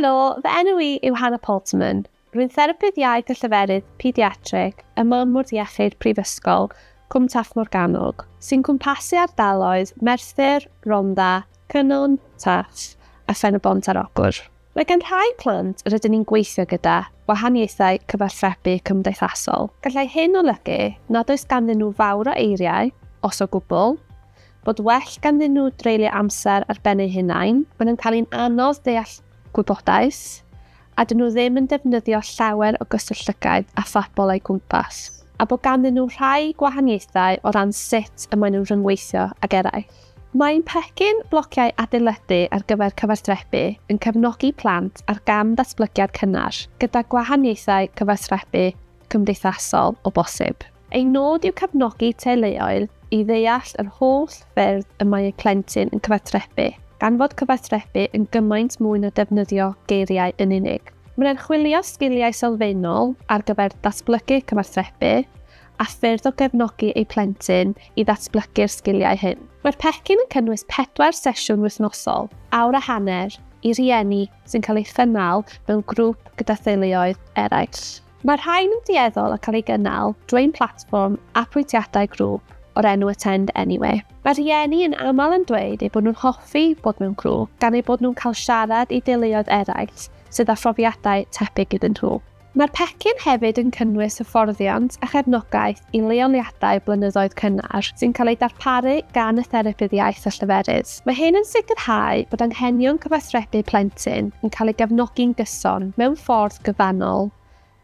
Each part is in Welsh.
Helo, fy enw i yw Hannah Palterman. Rwy'n Therapydd Iaith a Lleferydd Pediatrig ym Mannfwrdd Iechyd Prifysgol Cwm Taf Morgannwg, sy'n cwmpasu ardaloedd Merthyr, Rhondda, Cynon, Taff a Phen-y-bont ar Ogwr. Mae gan rhai plant yr ydyn ni'n gweithio gyda wahaniaethau cyfathrebu cymdeithasol. Gallai hyn olygu nad oes ganddyn nhw fawr o eiriau, os o gwbl, bod well ganddyn nhw dreulio amser ar ben eu hunain, maen nhw'n cael hi'n anodd deall gwybodaeth, a dyn nhw ddim yn defnyddio llawer o gyswllt llygaid a phobl o'u cwmpas, a bod ganddyn nhw rhai gwahaniaethau o ran sut y maen nhw'n rhyngweithio ag eraill. Mae ein pecyn blociau adeiladu ar gyfer cyfathrebu yn cefnogi plant ar gam ddatblygiad cynnar, gyda gwahaniaethau cyfathrebu cymdeithasol o bosib. Ei nod yw cefnogi teuluoedd i ddeall yr holl ffyrdd y mae eu plentyn yn cyfathrebu, gan fod cyfathrebu yn gymaint mwy na defnyddio geiriau yn unig. Mae'n archwilio sgiliau sylfaenol ar gyfer datblygu cyfathrebu, a ffyrdd o gefnogi eu plentyn i ddatblygu'r sgiliau hyn. Mae'r pecyn yn cynnwys pedwar sesiwn wythnosol, awr a hanner, i rieni sy'n cael ei chynnal mewn grŵp gyda theuluoedd eraill. Mae rhain yn dueddol o cael ei gynnal drwy'n platfform apwyntiadau grŵp o'r enw Attend Anyway. Mae rhieni yn aml yn dweud eu bod nhw'n hoffi bod mewn grŵp gan eu bod nhw'n cael siarad i deuluoedd eraill sydd â phrofiadau tebyg iddyn nhw. Mae'r pecyn hefyd yn cynnwys hyfforddiant a chefnogaeth i leoliadau blynyddoedd cynnar sy'n cael eu darparu gan y Therapydd Iaith a Lleferydd. Mae hyn yn sicrhau bod anghenion cyfathrebu plentyn yn cael ei gefnogi'n gyson mewn ffordd gyfannol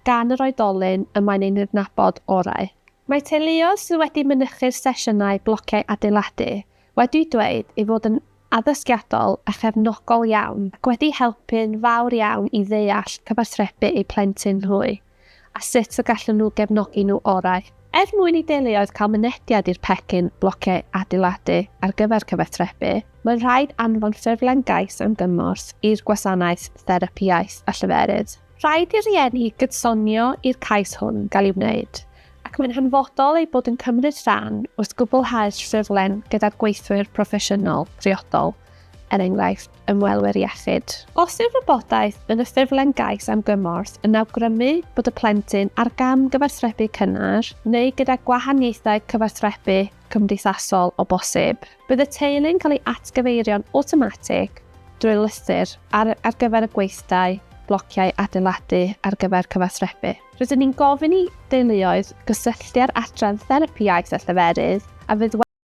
gan yr oedolyn y mae'n ei nydnabod orau. Mae teuluoedd sydd wedi mynychu'r sesiynau blociau adeiladu wedi dweud ei fod yn addysgiadol a chefnogol iawn ac wedi helpu'n fawr iawn i ddeall cyfathrebu eu plentyn nhw a sut y gallwn nhw gefnogi nhw orau. Er mwyn i deuluoedd cael mynediad i'r pecyn blociau adeiladu ar gyfer cyfathrebu, mae'n rhaid anfon ffurflen gais am gymorth i'r Gwasanaeth Therapi Iaith a Lleferydd. Rhaid i'r rhieni gydsonio i'r cais hwn gael ei wneud, ac mae'n hanfodol eu bod yn cymryd rhan wrth gwblhau'r ffurflen gyda'r gweithwyr proffesiynol priodol, er enghraifft, ymwelwyr iechyd. Os yw'r wybodaeth yn y ffurflen gais am gymorth yn awgrymu bod y plentyn ar gam gyfathrebu cynnar neu gyda gwahaniaethau cyfathrebu cymdeithasol o bosib. Bydd y teulu'n cael ei atgyfeirio'n awtomatig drwy lythyr ar ar gyfer y gweithdai blociau adeiladu ar gyfer cyfathrebu. Rydyn ni'n gofyn i deuluoedd gysylltu â'r Adran Therapi Iaith a Lleferydd a fydd wedi